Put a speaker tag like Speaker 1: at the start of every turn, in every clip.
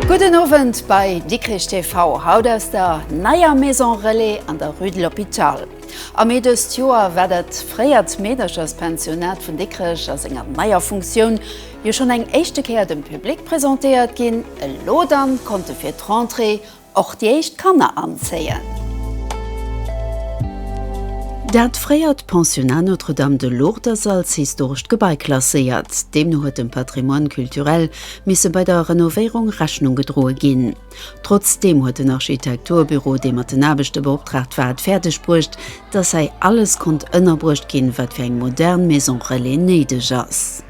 Speaker 1: Gudden Owend bei Dikrich TV, haut aus der neier Maison Relais an der Rue de l'Hôpital. Am Mee dëst Joer war dat fréiert Meedercherspensionat vun Dikrech a senger neier Funktioun, Jo schonn eng éischte Kéier dem Public presentéiert ginn. Elo dann konnte fir d'Rentrée och déi éischt Kanner anzéien. Dat fréiert Pensionnat Notre-Dame de Lourdes ass als historescht Gebai klasséiert. Deemno huet dem Patrimoine culturel misse bei der Renovéierung Rechnung gedroe ginn. Trotzdeem huet den Architekturbüro, dee mat den Aarbechte beoptraagt war, et fäerdeg bruecht, dass hei alles konnt ënnerbruecht ginn, wat fir eng modern Maison relais néideg ass.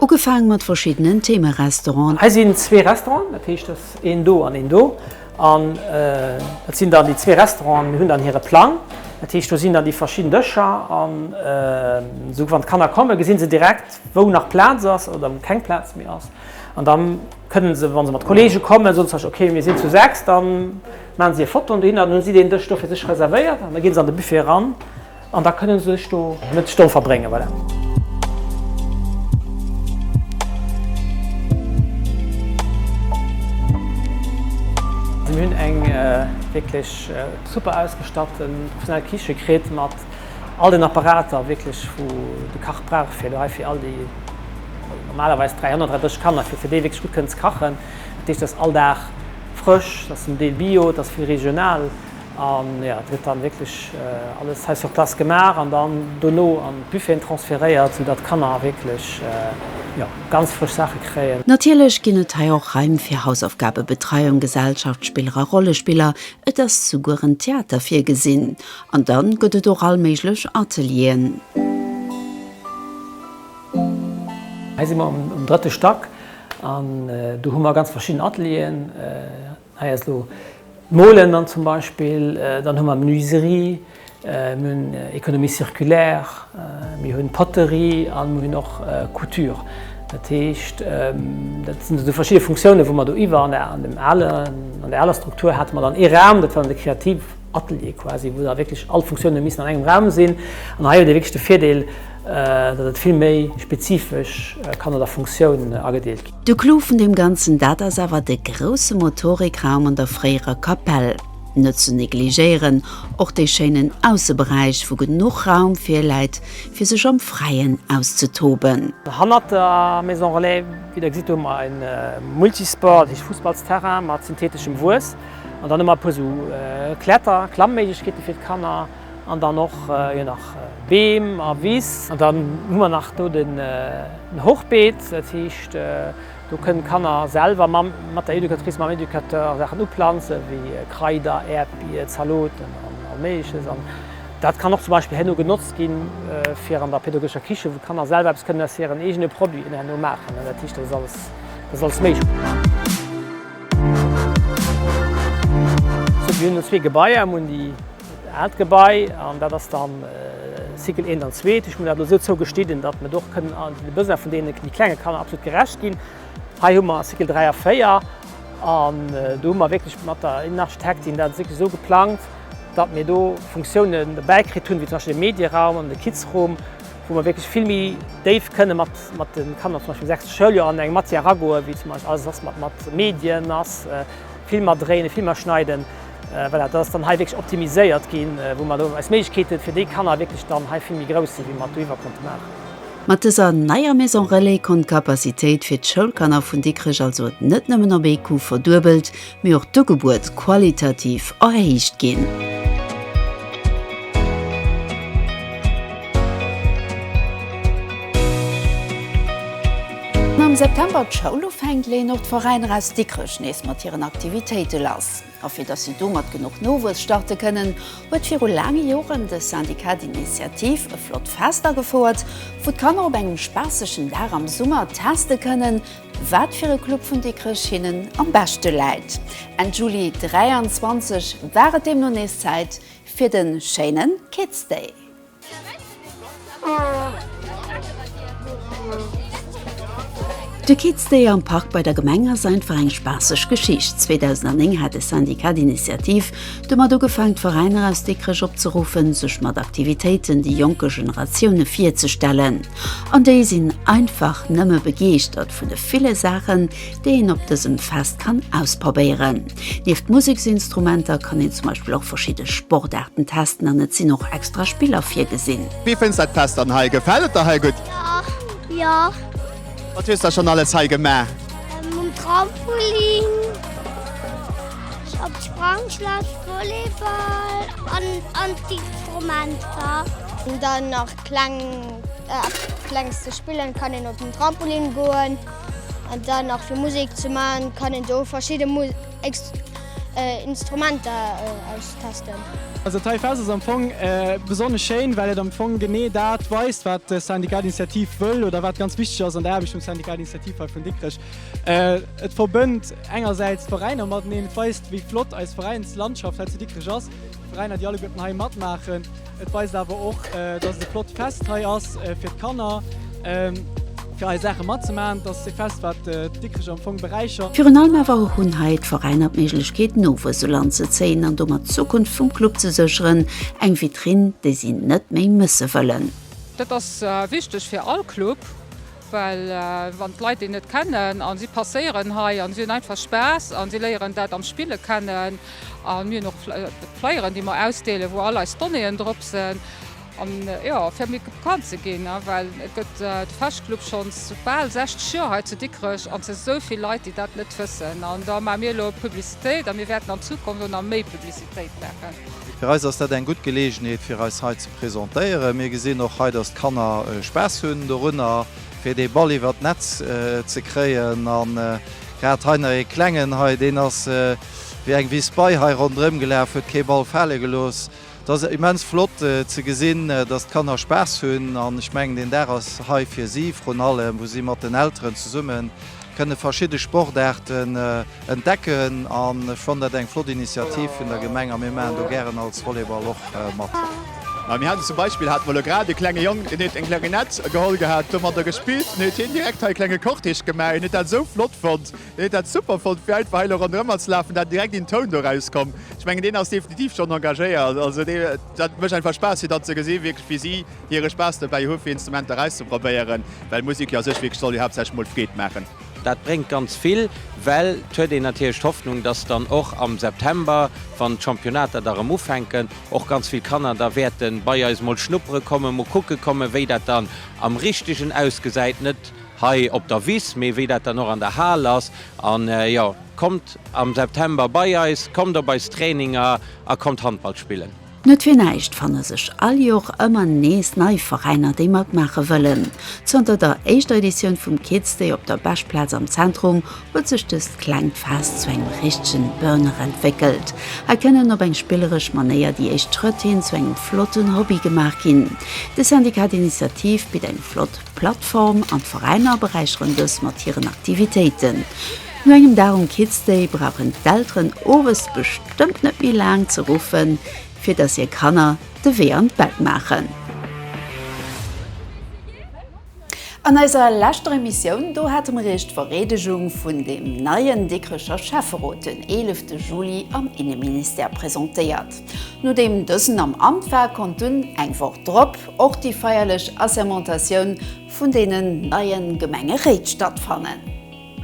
Speaker 1: Ugefaange mat verschiddenen Theme-Restauranten. Hei sinn zwee
Speaker 2: Restauranten, dat heescht, dass een do an een do. An et sinn dann déi zwee Restauranten hunn dann hire Plang, dat heescht, do sinn dann déi verschidden Dëscher. An esou wann d'Kanner kommen, gesi se direkt, wou nach Plaz ass oder wou keng Plaz méi ass. An da kënnen se, wa se mat Kollege kommen, soen se, ok, mir sinn zu sechs, da maachen se hir Fotoen dohinner an da hu si deen Dësch do fir sech reservéiert. An da ginn se an de Buffet eran an da kënnen se sech do e Mëtteg dovu verbréngen. Voilà. Mir hunn eng wierklech super ausgestatten professionell Kiche kritt mat. All den Apparater wierklech wou de Kach brauch fir do hei fir all déi normalerweis 333 Kanner fir fir déi wierklech gutt kënnen ze kachen. Dat heescht, et ass all Dag frësch, et ass zum Deel Bio, et ass vill regional an jo et gëtt dann wierklech alles hei sur place gemaach an dann dono an d'Buffeten transferéiert, sou datt d'Kanner wierklech jo ganz frësch Saache kréien. Natierlech ginn et hei
Speaker 1: och Raim fir Hausaufgabebetreiung, Gesellschaftsspiller a Rollespiller, et ass souguer en Theater virgesinn An dann gëtt et och all méiglech Atelieren.
Speaker 2: Hei si mer um drëtte Stack an do hu mer ganz verschidden Atelieren. Hei ass elo d'Molen dann zum Beispill, dann hu mer d'Menuiserie, mir hunn Economie circulaire, mir hunn Poterie a mir hunn och Couture. Dat heescht, dat sinn esou verschidde Funktiounen, wou mer do iwwer. An der alen, an der aler Struktur hate mer dann ee Raum, dat war dann de Kreativ. Atelier quasi, wou da wierklech all d'Funktiounen missen an engem Raum sinn. An hei huet ee wierklech de Virdeel, datt et vill méi spezifesch kann no der Funktioun agedeelt ginn. De Clou vun deem
Speaker 1: Ganzen, dat ass awer de grousse Motorikraum an der fréierer Kapell. Net ze negligéieren och dee schéinen Ausseberäich, wou genuch Raum virläit, fir sech am Fräien auszetoben. Hannert der
Speaker 2: Maison Relais, wéi Der gesitt, hu mer e Multisport, dat heescht Fussballsterrain mat syntheteschem Wues. An dann hu mer e puer esou Kletter-, Klammméiglechkeete fir d'Kanner an dann och jo nach Beem a Wiss. An dann hu mer nach do den Hochbeet, dat heescht do kënnen d'Kanner selwer mat der Educatrice, mam Educateur Saachen uplanzen, wéi Kraider, Äerdbier, Zaloten an all Méigleches. An dat kann och zum Beispill herno genotzt ginn, fir an der pädagogescher Kiche, wou d'Kanner selwer eppes kënnen aus hiren eegene Produiten herno maachen. Dat heescht dat ass alles, dat ass alles méiglech. Mir hunn elo zwee Gebaier. Mir hunn déi aalt Gebai an dat ass da Cycle eent an zwee. Mir hunn dat elo esou zou geschnidden, datt mer och kënnen de Besoine vun deene méi klenge Kanner absolut gerecht ginn. Hei hu mer Cycle dräi a véier an do hu mer wierklech mat der Innenarchitektin dat wierklech esou geplangt, datt mir do Funktiounen dobäi kritt hunn, wéi zum Beispill de Medieraum an de Kidsroom, wou mer wierklech vill méi déif kënne mat de Kanner zum Beispill um sechste Schouljoer an eng Matière eragoen, wéi zum Beispill alles ass mat mat Medien ass, Filmer dréinen, Filmer schneiden, voilà, dat ass dann hei wierklech optimiséiert ginn, wou mer elo eis Méiglechkeete fir déi Kanner wierklech dann hei vill méi grouss sinn, wéi mer et doiwwer konnte maachen. Mat dëser
Speaker 1: neier Maison relais konnt d'Capacitéit fir d'Schoulkanner vun Dikrech also net nëmmen op ee Coup verduebelt, mee och d'Ugebuet qualitativ erhéicht ginn. Wann am September d'Schoul ufänkt, leeën och d'Veräiner aus Dikrech nees mat hiren Aktivitéite lass. A fir datt si domat genuch Nowuess starte kënnen, huet viru laange Joren de Syndicat d'Initiative e flott Fest agefouert, wou d'Kanner op engem spaassegen Dag am Summer teste kënnen, Wat fir e Club vun Dikrech hinnen am beschte läit. Enn Juli 23 war et deemno nees Zäit fir de schéine Kids Day. De Kids Day am Park bei der Gemeng ass einfach eng spaasseg Geschicht. 2009 hat de Syndicat d'Initiative Domat ugefaang d'Veräiner aus Dikrech opzeruffen, sech mat Aktivitéiten déi jonke Generatioune virzestellen. An déi sinn einfach nëmme begeeschtert vun de ville Saachen, déi een op dësem Fest kann ausprobéieren. Nieft Museksinstrumenter kann een zum Beispill och verschidde Sportaarten testen an et sinn och extra Spiller virgesinn. Wéi fënns de dat Fest an
Speaker 3: hei? Gefält et der hei gutt? Jo, jo.
Speaker 4: Wat
Speaker 3: hues da schonn alles hei gemaach? Um
Speaker 4: Trampolin, op d'Sprangschlass, Volleyball an an d'Instrumenter. An dann nach kleng Klengs ze spillen, kann een op den Trampolin goen an dann nach fir Musek ze man, kann een do verschidde Mu. Instrumenter austesten. Also d'HiFest
Speaker 5: ass am Fong besonnesch schéin, well et am Fong genee dat weist, wat de Syndicat d'initiative wëll oder wat ganz wichteg ass an der Aarbecht vum Syndicat d'initiative hei vun Dikrech. Et verbënnt engersäits d'Veräiner mateneen, et weist, wéi flott eis Veräinslandschaft hei zu Dikrech ass. Veräiner déi alleguerten hei matmaachen. Et weist awer och, dass et e flott Fest hei ass fir d'Kanner, fir hei Saache matzemaachen. Et ass e Fest, wat d'Dikricher am Fong beräichert. Virun allem awer hunn
Speaker 1: hei d'Veräiner d'Méiglechkeet, Nowuess elanzezéien an domat d'Zukunft vum Club ze sécheren. Eng Vitrinn, déi si net méi mësse wëllen. Dat ass
Speaker 6: wichteg fir all Club. Well wann d'Leit déi net kennen a si passéieren hei a si hunn einfach Spaass a si léieren dat am Spille kennen a mir hunn och Flyeren, déi mer ausdeelen, wou all eis Donnéeën drop sinn an jo fir méi bekannt ze ginn. Well et gëtt de Feschclub schonns bal 60 Joer hei zu Dikrech an et sinn esou vill Leit, déi dat net wëssen an da maache mir elo Publicitéit a mir wäerten an Zukunft och nach méi Publicitéit. Fréit baachen. Fir eis ass dat eng
Speaker 7: gutt Geleegenheet fir eis hei ze presentéieren. Mir gesinn och hei, dass d'Kanner Spaass hunn dorunner fir dee Ball iwwert d'Netz ze kréien. An grad hei nach ee klengen hei, deen ass wéi eng Wiss bei hei ronderëm gelaf, huet kee Ball fale gelooss. Et ass immens flott ze gesinn, dass d'Kanner Spaass hunn an ech mengen deen Dag ass hei fir si vrun allem, wou si mat den Elteren zesummen. Kënne verschidde Sportaarten entdecken an ech fannen dat eng flott Initiativ vun der Gemeng a mir maachen do gären als Volleyball och mat. Mir haten zum
Speaker 3: Beispill hate mer elo grad e klenge Jong, deen huet eng Klarinett geholl gehat, domadder gespillt an huet hien direkt hei e klenge Cortège gemaach. Hien huet dat esou flott fonnt, hien huet dat super fonnt fir einfach hei elo ronderëmmer ze lafen, dat direkt een Toun doraus komm. Ech mengen deen ass definitiv schonn engagéiert, also dat mécht einfach Spaass fir dat ze gesinn wierklech wéi si hiere Spaass dobäi hu fir Instrumenter auszeprobéieren, well Musek jo a sech wierklech soll jo haaptsächlech mol Freed maachen. Dat bréngt ganz
Speaker 8: vill, well et huet een natierlech d'Hoffnung, dass dann och am September, wann d'Championnater da rëm ufänken, och ganz vill Kanner da wäerte bei eis mol schnuppere kommen, mol kucke kommen, wéi dat dann am Richtegen ausgesäit, net hei op der Wiss, mee wéi dat dann och an der Hal ass. An jo, kommt am September bei eis, kommt op eis Traininger a kommt Handball spillen! Net fir näischt
Speaker 1: fanne sech all Jor ëmmer nees nei Veräiner, déi matmaache wëllen. Zënter der éischter Editioun vum Kids Day op der Beschplaz am Zentrum huet sech dëst klengt Fest zu engem richtegen Burner entwéckelt. Hei kënnen op eng spilleresch Manéier déi éischt Schrëtt hin zu engem flotten Hobby gemaach ginn. De Syndicat d'Initiative bitt eng flott. D'Plattform an d'Veräiner beräicheren dës mat hiren Aktivitéiten. No engem Dag um Kids Day brauchen d'Elteren owes bestëmmt net méi laang ze ruffen, fir dass hir Kanner de Wee an d'Bett maachen. An eiser leschter Emissioun, do hate mer Iech d'Vereedegung vun deem neien Dikrecher Schäfferot den 11 Juli am Inneministère presentéiert. Nodeem dësen am Amt war, konnt dunn eng Woch drop och déi feierlech Assermentatioun vun deenen neie Gemengeréit stattfannen.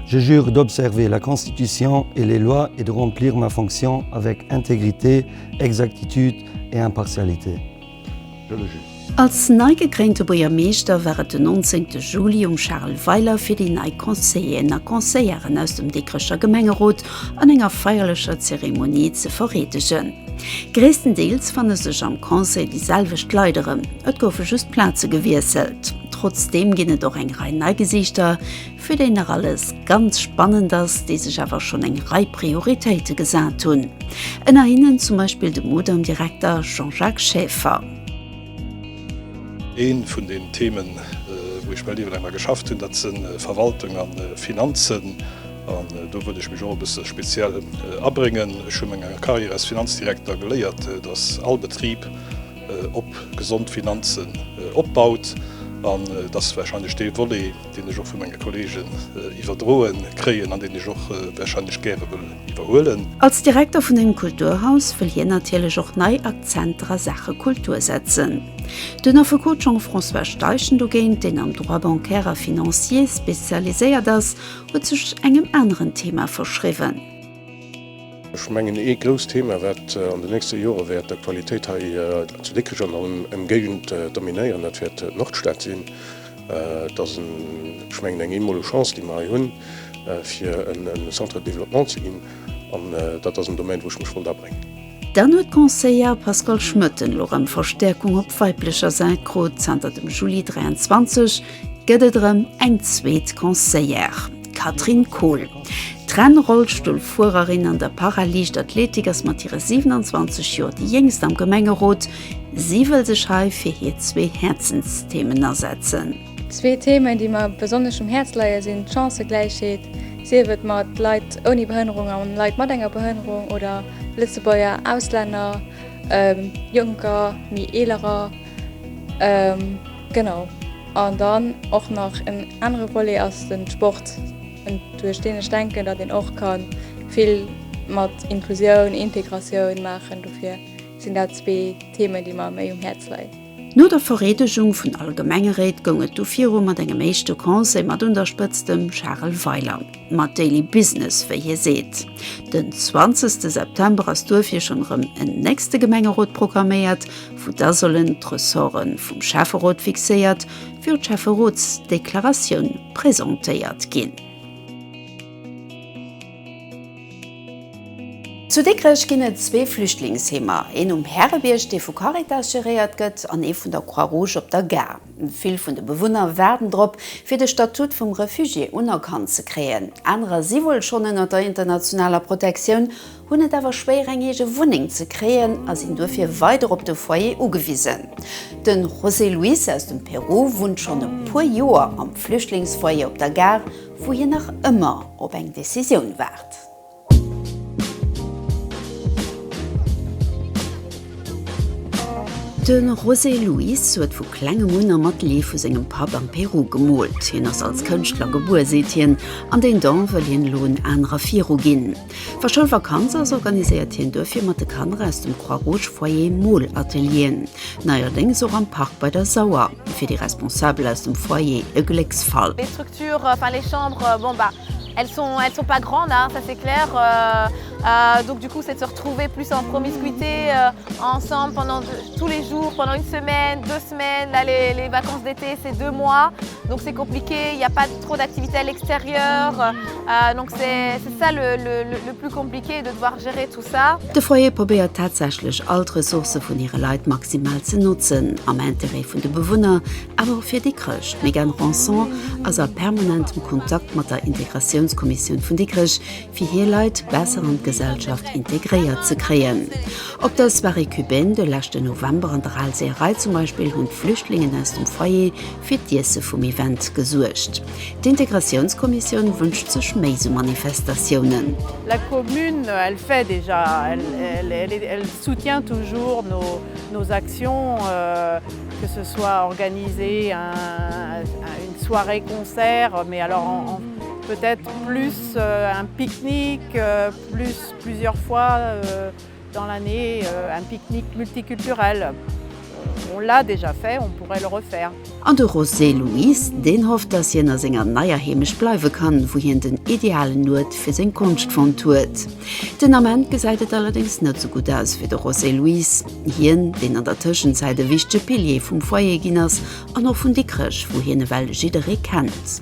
Speaker 1: Je jure
Speaker 9: d'observer la Constitution et les lois et de remplir ma fonction avec intégrité, exactitude et impartialité. Als nei gekréinte
Speaker 1: Buergermeeschter war et den 19 te Juli um Charel Weiler fir déi nei Conseilléen a Conseilleren aus dem Dikrecher Gemengerot an enger feierlecher Zeremonie ze vereedegen. Gréisstendeels fanne sech am Conseil déi selwecht Leit erëm, et goufe just d'Plaze gewiesselt. Trotzdeem ginn et och eng Rei nei Gesiichter, Fir déi nach alles ganz spannend ass, déi sech awer schonn eng Rei Prioritéite gesat hunn. Ënner hinnen zum Beispill de Mudam-Direkter Jean-Jacques Schäfer.
Speaker 10: Eent vun den Themen, wou ech mell iwwerlaang dra geschafft hunn, dat sinn Verwaltung a Finanzen. An do wëll ech mech och e bësse speziell abréngen. Ech hu menger Carrière als Finanzdirekter geléiert, dass all Betrib op gesond Finanzen opbaut an dass warscheinlech dee Volet, deen ech och vu menge Kollegen iwwerdroe kréien an deen ech och warscheinlech gäre wëll iwwerhuelen. Als Direkter vun
Speaker 1: engem Kulturhaus wëll hien natierlech och nei Akzenter a Saache Kultur setzen. Den Affekot Jean-François Steichen dogéint, deen am Droit bancaire a financier spezialiséiert ass, huet sech engem aneren Thema verschriwwen.
Speaker 11: Ech mengen, ee grousst Thema, wat an de nächste Jore wäert d'Aktualitéit hei zu Dikrech an der Ëmgéigend dominéieren, dat wäert d'Nordstad sinn. Et ass en, ech mengen, eng eemmoleg Chance, déi mer hei hunn, fir e Centre de développement ze ginn. An dat ass en Domaine, wou ech mech wollt abréngen. Dann huet
Speaker 1: d'Conseillère Pascale Schmoetten elo erëm Verstäerkung op weiblecher Säit krut. Zanter dem Juli 23 gëtt et erëm eng zweet Conseillère, d'Catherine Kohl. D'Rennrollstullfuererin an der Para-Liichtathletik ass mat hire 27 Joer déi Jéngst am Gemengerot. Si wëll sech hei fir hir zwee Häerzensthemen asetzen. Zwee Themen,
Speaker 12: déi mer besonnesch um Häerz leie sinn d'Chancëgläichheet, sief et mat Leit ouni Behënnerung a Leit mat enger Behënnerung oder Lëtzebuerger, Auslänner, Jonker, méi Eelerer. Genau. An dann och nach en anere Volet ass de Sport, duerch deen ech denken, datt een och ka vill mat Inklusioun, Integratioun maachen dofir. sinn dat zwee Themen, déi mer méi um Häerz leien. No der Vereedegung
Speaker 1: vun all Gemengeréit goung et du viru mat engem éischte Conseil mat un der Spëtzt dem Charel Weiler mat Daily Business, wéi hie seet. Den zwanzegste September ass duerfir schonn erëm en nächste Gemengerot programméiert, wou da sollen d'Ressorte vum Schäfferot fixéiert wéi och d'Schäfferotsdeklaratioun presentéiert ginn. Zu Dikrech ginn et zwee Flüchtlingsheemer, een um Härebierg, dee vu Caritas geréiert gëtt, an ee vun der Croix Rouge op der Gare. Vill vun de Bewunner waarden drop, fir de Statut vum Refugié unerkannt ze kréien. Anerer si wuel schonn ënner der internationaler Protektioun, hunn et awer schwéier, eng eege Wunneng ze kréien a sinn duerfir weider op de Foyer ugewisen. De José Luis aus dem Peru wunnt schonn e puer Joer am Flüchtlingsfoyer op der Gare. wou hien nach ëmmer op eng Decisioun waart. De José Luis huet vu klengem un a mat Lee vu sengem Papp am Peru gemoolt. Hien ass als Kënschtler gebuer, seet hien, an deen Don wëll hien elo en anerer viruginn. Wa Schoulvakanz ass, organiséiert hien duerfir mat de Kanner aus dem Croix-Rouge-Foyer Mool-Atelieren, neierdéngs och am Park bei der Sauer. Fir déi Responsabel aus dem Foyer
Speaker 13: e Glécksfall. trop d'activités à l'extérieur, donc c'est ça le plus compliqué de devoir gérer tout ça. De Foyer probéiert
Speaker 1: tatsächlech all d'Ressourcë vun hire Leit maximal ze notzen, am Intérêt vun de Bewunner, awer och fir déi Chrëscht. D'Mégane Ranson ass a permanentem Kontakt mat der Integratiounskommissioun vun Dikrech, fir hir Leit besser an d'Gesellschaft integréiert ze kréien. Op der Soirée cubaine de leschten November an der Alséerei zum Beispill hunn d'Flüchtlingen aus dem Foyer fir d'Iesse vum Event gesuergt. D'Integratiounskommissioun wënscht sech méi sou Manifestatiounen. La
Speaker 14: commune elle fait déjà elle soutient toujours nos actions que ce soit organiser une soirée concert mais alors peut être plus un pique-nique plus plusieurs fois. Dans l'année un pique-nique multiculturel, on l'a déjà fait, on pourrait le refaire. An de Rosé
Speaker 1: Luis, deen hofft, datt hien a senger neier Heemecht bleiwe kann, wou hien den idealen Uert fir seng Konscht fonnt huet. Den Ament gesäit et allerdéngs net sou gutt aus fir de Rosé Luis, hien, deen an der Tëschenzäit e wichtege Pilier vum Foyer ginn ass an och vun Dikrech, wou hien ewell jidderee kennt.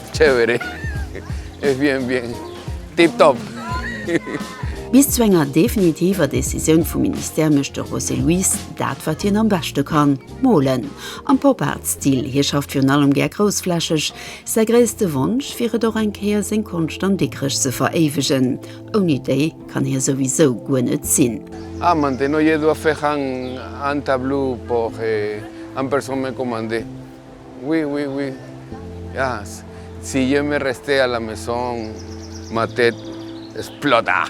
Speaker 15: Tjouweree, ech wier en bien tip top. Bis
Speaker 1: zu enger definitiver Decisioun vum Ministère mécht de José Luis dat, wat hien am beschte kann, molen. Am Pop-Art-Stil, hie schafft virun allem gär groussflächeg. Säi gréisste Wonsch wier et, och eng Kéier seng Konscht an Dikrech ze veréiwegen. Ouni déi kann hie souwisou guer net sinn. Ah, maintenant je
Speaker 15: dois faire un tableau pour un personne me commander. Oui oui oui yes si je me rester à la maison ma tête esploda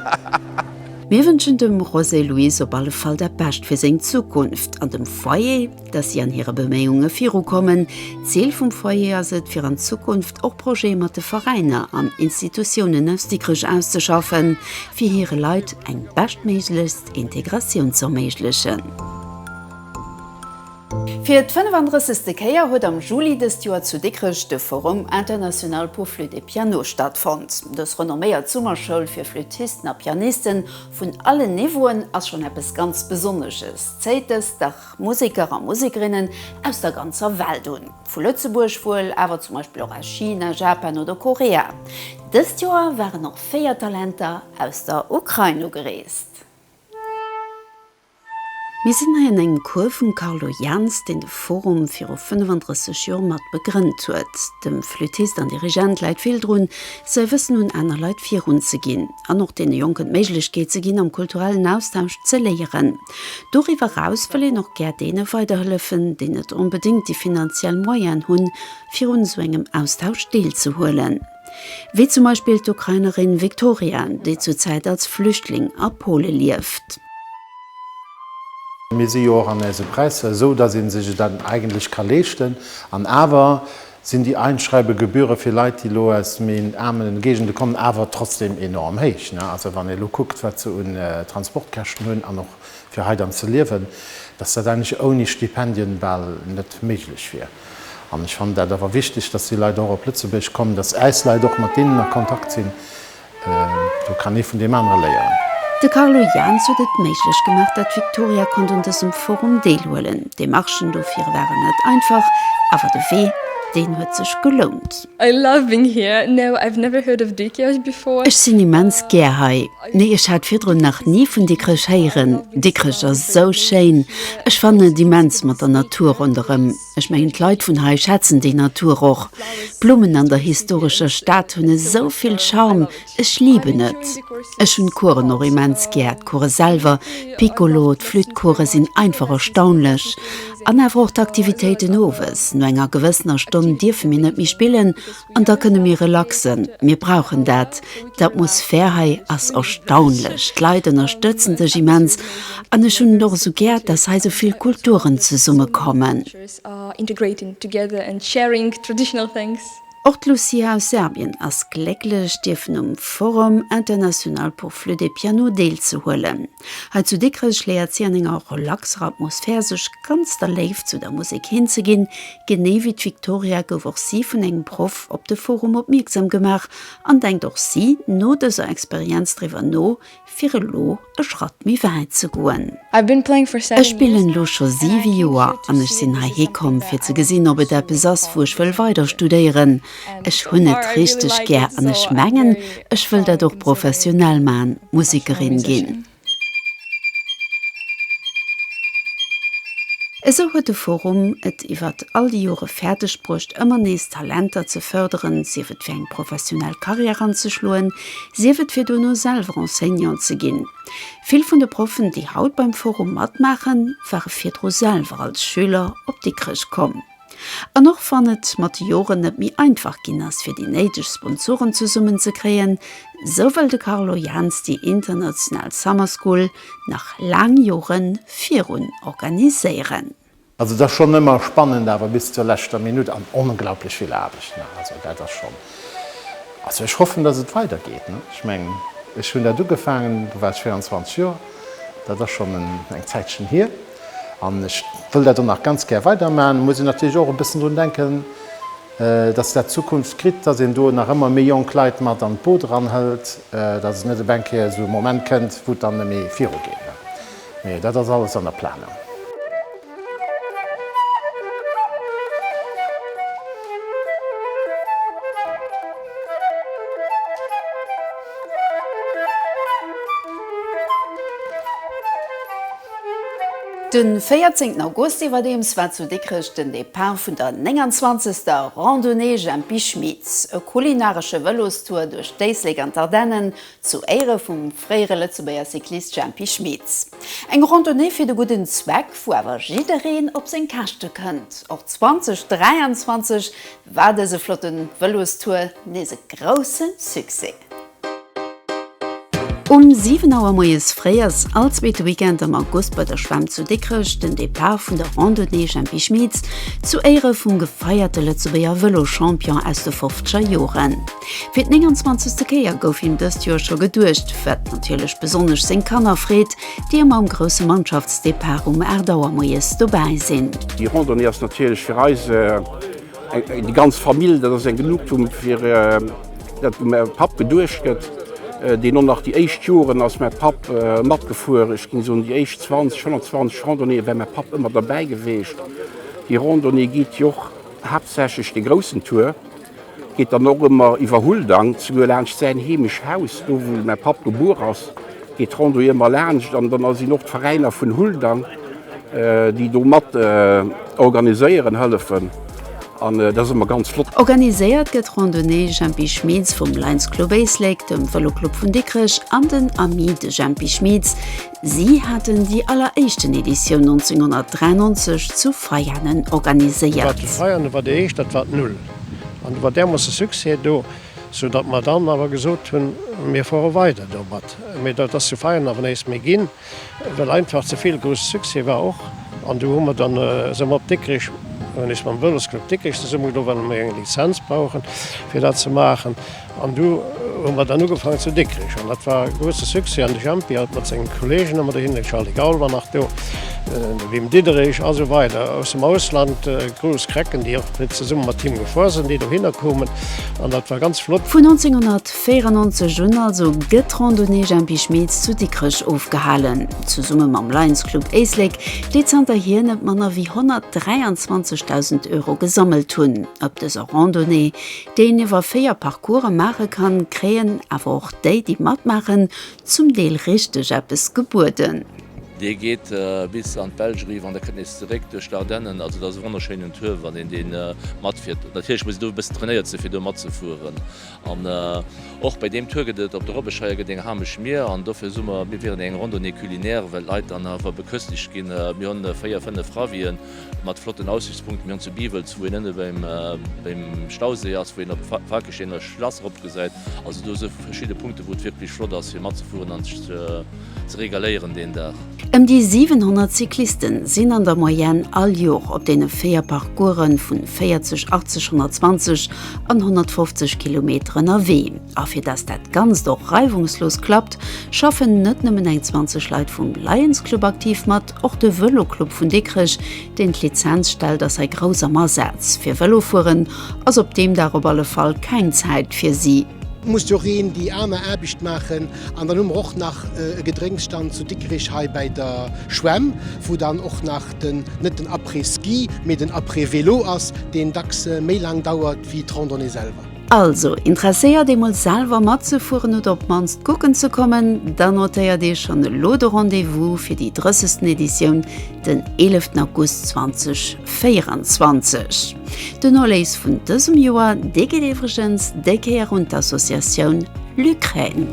Speaker 15: hahaha.
Speaker 1: Mir wënschen dem José Luis op alle Fall dat Bescht fir seng Zukunft an dem Foyer, dass si an hire Beméiunge virukommen. D'Zil vum Foyer ass et, fir an Zukunft och Projete mat de Veräiner an Institutiounen aus Dikrech auszeschaffen, fir hire Leit eng beschtméiglechst Integratioun z'erméiglechen. Fir d'fënnefanddrëssechte Kéier huet am Juli dëst Joer zu Dikrech de Forum international pour flûte et piano stattfonnt. Dës renomméiert Summerschoul fir Flüttisten a Pianisten vun allen Niveauen ass schonn eppes ganz Besonnesches, zéit dës Dag Museker a Musekerinnen aus der ganzer Welt un, vu Lëtzebuerg wuel, awer zum Beispill och aus China, Japan oder Korea. Dëst Joer waren och véier Talenter aus der Ukrain ugereest. Mir sinn hei an engem Cours vum Carlo Jans, deen de Forum viru 35 Joer mat begrënnt huet. Dem Flüttist an Dirigent läit vill drun, säi Wëssen un aner Leit virun ze ginn an och deene Jonken d'Méiglechkeet ze ginn, am kulturellen Austausch ze léieren. Doriwwer eraus wëll een och gär deene weiderhëllefen, déi net onbedéngt déi finanziell Moyene hunn, fir un esou engem Austausch deelzehuelen. wéi zum Beispill d'Ukrainerin Victoria, déi zur Zäit als Flüchtling a Pole lieft.
Speaker 16: Mir si jo och an eise Präisser esou, dass ee sech et dann eigentlech ka leeschten. An awer sinn déi Einschreibegebühre fir Leit, déi elo aus méi aarme Géigende kommen, awer trotzdeem enorm héich. Also wann ee elo kuckt, wat se un Transportkäschten hunn an och fir hei dann ze liewen, dass dat eigentlech ouni Stipendien bal net méiglech wier. An ech fannen dat awer wichteg, dass déi Leit och op Lëtzebuerg kommen, dass äis Leit och mat deenen a Kontakt sinn. Do kann ee vun deem anere léieren. De Carlo
Speaker 1: Jaans huet et méiglech gemaach, dat d'Victoria konnt un dësem Forum deelhuelen. D'Demarchen dofir waren net einfach, awer de Wee, deen huet sech gelount. I love being
Speaker 12: here, no I've never heard of Dikrech before. Ech sinn immens gär
Speaker 1: hei. Nee ech hat virdrun nach ni vun Dikrech héieren. Dikrech ass esou schéin. Ech fannen et immens mat der Natur ronderëm. Ech mengen d'Leit vun hei schätzen déi Natur och. D'Blummen an der historescher Stad hunn esou vill Charme, Ech liben et! Ech hunn d'Coursen och immens gär, d'Course selwer, d'Piccolo, d'Flütt-Course sinn einfach erstaunlech. An awer och d'Aktivitéiten owes. No enger gewëssener Stonn dierfe mir net méi spillen an da kënne mir relaxen. Mir brauchen dat. D'Atmosphär hei ass erstaunlech, d'Leit ënnerstëtzen dech immens an ech hunn et och esou gär, dass hei esou vill Kulturen zesummekommen.
Speaker 12: Och d'Lucia
Speaker 1: aus Serbien ass glécklech, dierfen um Forum international pour flûte et piano deelzehuelen. Hei zu Dikrech léiert si an enger relaxer Atmosphär, sech ganz der Léift zu der Musek hinzeginn. Genee wéi d'Victoria gouf och si vun engem Proff op de Forum opmierksam gemaach an denkt och si no dëser Experienz driwwer no, fir elo e Schratt méi wäit ze goen. Ech spillen elo scho siwe Joer an ech sinn heihi komm fir ze gesinn ob et eppes ass wou ech wëll weider studéieren. Ech hunn et richteg gär an ech mengen ech wëll dat och professionell man, Musekerin ginn. Esou huet de Forum et iwwert all déi Jore fäerdeg bruecht ëmmer nees Talenter ze fërderen, sief et fir eng professionell Karriär anzeschloen, sief et fir duerno selwer Enseignant ze ginn. Vill vun de Proffen, déi haut beim Forum matmaachen, ware virdru selwer als Schüler op Dikrech komm. An och wann et mat de Joren net méi einfach ginn ass, fir déi néideg Sponsoren zesummen ze kréien, sou wëll de Carlo Jaans déi international Summer School nach laang Jore virun organiséieren. Also et ass schonn
Speaker 16: ëmmer spannend awer bis zur leschter Minutt an onglaublich vill Aarbecht, ne? Also dat ass schonn, also ech hoffen dass et weider geet, ne? Ech meng ech hunn dat ugefaangen, do war ech 24 Joer, dat ass schonn eng Zäitchen hier an ech wëll dat och nach ganz gär weider maachen. Muss een natierlech och e bëssen drun denken, dass dat Zukunft kritt, dass een do nach ëmmer méi jonk Leit mat an d'Boot eranhëlt, dass et net op eng Kéier esou e Moment kënnt wou et dann net méi virugeet, ne? Mee dat ass alles an der Planung.
Speaker 1: De 14 August iwwerdeems war zu Dikrech den Depart vun der 29. Randonnée Jempi Schmit. E kulinaresche Vëlostour duerch d'Éislek an d'Ardennen Zu Éiere vum fréiere Lëtzebuerger Cyclist Jempy Schmeets. Eng Randonnée fir de gudden Zweck, wou awer jiddereen op seng Käschte kënnt. Och 2023 war dëse flotte Vëlostour nees e grousse Succès. Um 7 Auer moies fréi ass all zweete Weekend am August bei der Schwämm zu Dikrech den Depart vun der Randonnée Jempy Schmeets zu Éiere vum gefeierte Lëtzebuerger Vëlochampion aus de fofzeger Joren. Fir d'nénganzwanzegste Kéier gouf him dëst Joer scho geduecht, wat natierlech besonnesch seng Kanner freet, déi ëmmer um grousse Mannschaftsdepart um 8 Auer moies dobäi sinn. Déi Randonnée ass
Speaker 17: natierlech fir eis déi ganz Famill. Dat ass eng Genugtuung, fir dat dem Papp geduecht gëtt, deen och nach déi éischt Joren ass mäi Papp matgefuer. Ech géing soen, déi éischt 20, 120 Randonnéeë wär mäi Papp ëmmer derbäi geweecht. Déi Randonnée geet jo och haaptsächlech de groussen Tour. Geet dann och ëmmer iwwer Huldang, zeguer laanscht säin heemescht Haus, do wou mäi Papp gebuer ass, geet d'Randonnée ëmmer laanscht an dann sinn och d'Veräiner vun Huldang, déi do mat organiséieren, hëllefen an dat ass ëmmer ganz flott. Organiséiert gëtt
Speaker 1: d'Randonnée Jempi Schmitz vum Lions Club Éislek, dem Vëloclub vun Dikrech an den Amis de Jempi Schmitz, Si haten déi alleréischten Editioun 1993 zu Veianen organiséiert. Zu Veianen war déi
Speaker 18: éischt, dat war d'Null. An do war därmoosse Succès do, sou datt mer dann awer gesot hunn, mir fuere weider domat. Mee dat ass zu Veianen awer nees méi ginn, well einfach ze vill grousse Succès war och. An du hu mer dann, si mer op Dikrech, hunn ech mam Vëlosclub Dikrech zesummegedo, well mer eng Lizenz brauchen, fir dat ze maachen. An du hu mer dann ugefaangen zu Dikrich. An dat war e grousse Succès. An de Jempi hat mat senge Kolleegen ëmmer dohinner, de Charly Gaul war nach do, de Wim Diederich a sou weider aus dem Ausland, grouss Krecken, déi och fir zesumme mat him gefuer sinn, déi dohinner koumen. An dat war ganz flott. Vun
Speaker 1: 1994 un also gëtt d'Randonnée Jempi Schmitz zu Dikrech ofgehalen, zesumme mam Lions Club Éislek, déi zanterhier net manner wéi 123.000 Euro gesammelt hunn op dëser Randonnée, deen iwwer 4 Parcourse maache kann, kréien awer och déi, déi matmaachen, zum Deel richteg eppes gebueden. Dee geet
Speaker 19: bis an d'Belsch eriwwer an da kënnt nees zeréck duerch d'Ardennen. Also, dat ass e wonnerschéinen Tour, wann een dee matfiert. Natierlech muss een do e bëssen trainéiert sinn, fir do matzefueren. An och bei deem Tour gëtt et op der Robbesscheier gëtt eng hamesch Mier an dofir soe mer, mir wieren eng Randonnée culinaire, well d'Leit dann awer beköstegt ginn. Mir hu véier, fënnef Ravien. mat flotten Aussichtspunkten. Mir hunn zu Biwels, wou een ënne beim Stauséi ass, wou een op d'Falkesteener Schlass eropgesäit, also do sou verschidde Punkte wou et wierklech flott ass fir matzefueren an sech ze regaléieren deen Dag. Ëm déi 700
Speaker 1: Cycliste sinn an der Moyenne all Jor op deene véier Parcourse vu 40, 80, 120 an 150 Kilometer ënnerwee. A fir dass dat Ganzt och reiwungslos klappt, schaffen net nëmmen eng 20 Leit vum Lions Club aktiv mat, Och de Vëloclub vun Dikrech, deen d'Lizenz stellt, ass hei grouss am Asaz. Fir Vëlofueren ass op deem Dag op alle Fall keng Zäit fir si. Muss jo reen
Speaker 20: déi aarmer Aarbecht maachen. An dann hu mer och nach e Gedrénksstand zu Dikrech hei bäi der Schwämm, wou dann och nach den, net den Après-Ski, mee den Après-Vélo ass, deen dacks méi laang dauert wéi d'Randonnée selwer. Also,
Speaker 1: interesséiert eemol selwer matzefueren oder op d'mannst kucken ze kommen? Dann notéiert Iech schonn elo de Rendez-vous fir déi 30. Editioun den 11 August 2024. Den Erléis vun dësem Joer, dee geet iwwregens déi Kéier un d'Associatioun Lukraine.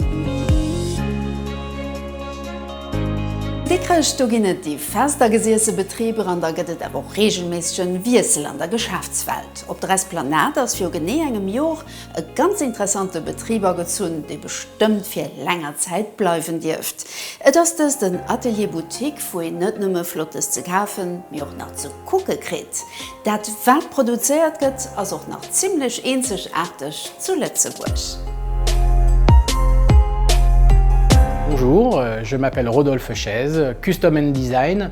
Speaker 1: Dikkrech, Do ginn et déi fest agesiesse Betriber an da gëtt et awer och reegelméissegen Wiessel an der Geschäftswelt. Op der Esplanade ass viru genee engem Jor e ganz interessante Betrib agezunn, dee bestëmmt fir länger Zäit bleiwen dierft. Et ass dëst en Atelier Boutique, wou een net nëmme Flottes ze kafen, mee och nach ze kucke kritt. Dat wat produzéiert gëtt, ass och nach zimmlech eenzegaarteg zu Lëtzebuerg.
Speaker 21: Bonjour, je m'appelle Rodolphe Chaise, Custom and Design.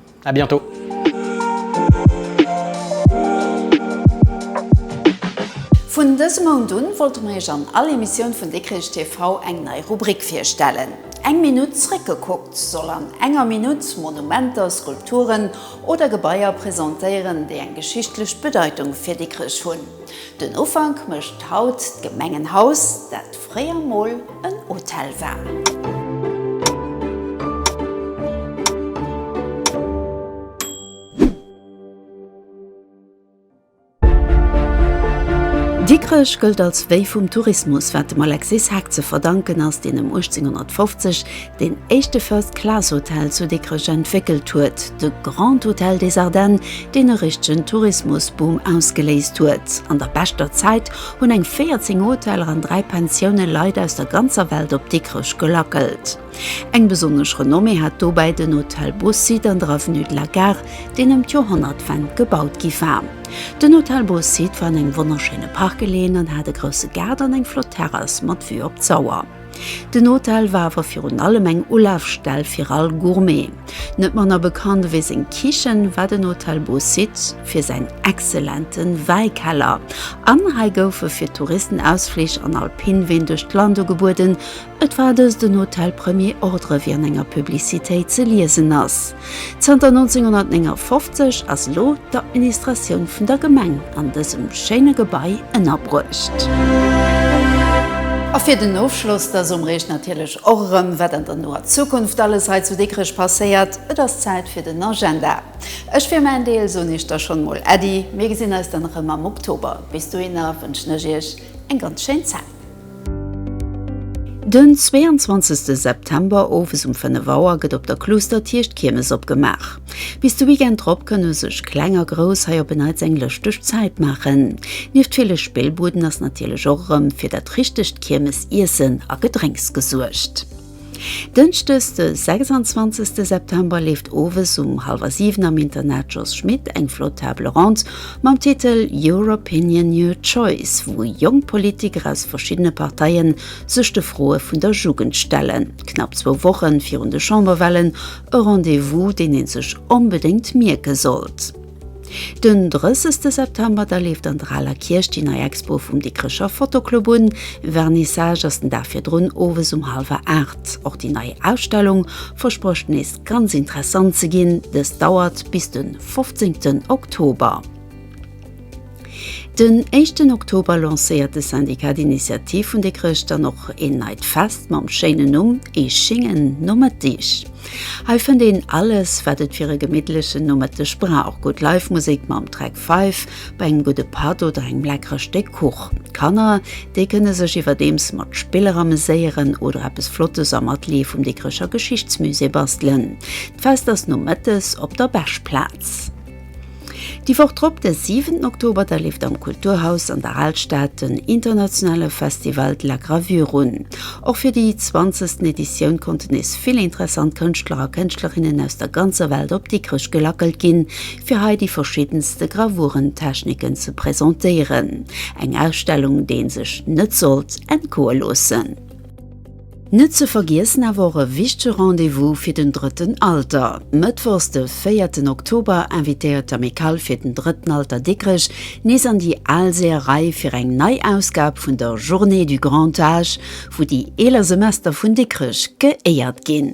Speaker 21: A bientôt!
Speaker 1: Vun dësem Mount un wollte mer Iech an all Emissioun vun Dikrich TV eng nei Rubrik virstellen. Eng Minutt zréckgekuckt soll an enger Minutt Monumenter, Skulpturen oder Gebaier presentéieren, déi eng geschichtlech Bedeitung fir Dikrich hunn. Den Ufank mécht haut d'Gemengenhaus, dat. fréier mol en Hotel war. Dikrech gëllt als Wéi vum Tourismus, wat dem Alexis Hack ze verdanken ass, deen ëm 1850 deen éischte First Class Hotel zu Dikrech entwéckelt huet, de Grand Hôtel des Ardennes, deen e richtegen Tourismusboom ausgeléist huet. An der beschter Zäit hunn eng 14 Hoteller an 3 Pensioune Leit aus der ganzer Welt op Dikrech gelackelt. Eng besonnesch Renommée hat dobäi den Hôtel Beausite an der Avenue de la Gare, deen ëm d'Joerhonnertwend gebaut gi war. Den Hôtel Beausite war an engem wonnerschéine Park geleeën an hat e grousse Gaart an eng flott Terrass mat Vue op d'Sauer. Den Hotel war awer virun allem eng Ulafstell fir all Gourmet. Net manner bekannt ewéi seng Kichen war den Hotel Beau Site fir säin excellente Wäikeller. An hei goufe fir d'Touristen Ausflich an Alpinween duerch d'Land ugebueden. Et war dëst en Hotel Premier Ordre, wéi an enger Publicitéit ze liesen ass. Zanter 1959 ass lo d'Administratioun vun der Gemeng an dësem schéine Gebai ënnerbruecht. A fir den Ofschloss, da soen mer iech natierlech och erëm, wat an der noer Zukunft alles hei zu Dikrech passéiert. Et ass Zäit fir den Agenda. Ech fir mäin Deel soen iech da schonn emol Äddi. Mir gesinn eis dann erëm am Oktober. Bis dohinner wënschen ech iech eng ganz schéin Zäit. Den 22 September owes um 5 Auer gëtt op der Kluustertierch d'Kiermes opgemaach. Bis de Weekend drop kënne sech Kleng a Grouss hei op en Neits eng lëschteg Zäit maachen. Nieft ville Spillbuden ass natierlech och erëm fir dat richtegt Kiermesiessen a gedrénks gesuergt. Dënschdes de 26 September leeft owes um hallwer 7 am Internat Jos Schmit eng flott Table Ronde mam Titel Your Opinion, Your Choice, wou jonk Politiker aus verschiddene Parteie sech de Froe vun der Jugend stellen. Knapp zwou Woche virun de Chamberwahlen, e Rendez-vous, deen ee sech onbedéngt mierke sollt. Den 30 September da leeft an der Aler Kierch déi nei Expo vum Dikrecher Fotoclub un. Vernissage ass den Dag virdrun owes um hallwer 8. Och déi nei Ausstellung versprécht nees ganz interessant ze ginn. Dës dauert bis de 15 Oktober. Den éischten Oktober lancéiert de Syndicat d'Initiative vun de Chrëscht dann och een neit Fest mam schéinen Numm Ee schéngen Nomëtteg. Hei fënnt een alles, wat et fir e gemittlechen Nomëtteg brauch, gutt Live-Musek mam Track Five bei engem gudde Patt oder engem leckere Stéck Kuch. D'Kanner, déi kënne sech iwwerdeems mat Spiller ameséieren oder eppes Flottes am Atelier vum Dikrecher Geschichtsmusée bastelen. D'Fest ass nomëttes op der Beschplaz. Déi Woch drop, de siwenten Oktober, da leeft am Kulturhaus an der Alstad den internationale Festival de la Gravure un. Och fir déi zwanzegsten Editioun konnten nees vill interessant Kënschtler a Kënschtlerinnen aus der ganzer Welt op Dikrech gelackelt ginn, fir hei déi verschiddenste Gravuren-Techniken ze presentéieren. Eng Ausstellung, déi ee sech net sollt entgoe loossen. Net ze vergiessen awer och e wichtege Rendez-vous fir den drëtten Alter. Mëttwochs de véierten Oktober invitéiert d'Amicale fir den drëtten Alter Dikrech nees an déi al Seeërei fir eng nei Ausgab vun der Journée du Grand Âge, wou déi eeler Semester vun Dikrech geéiert ginn.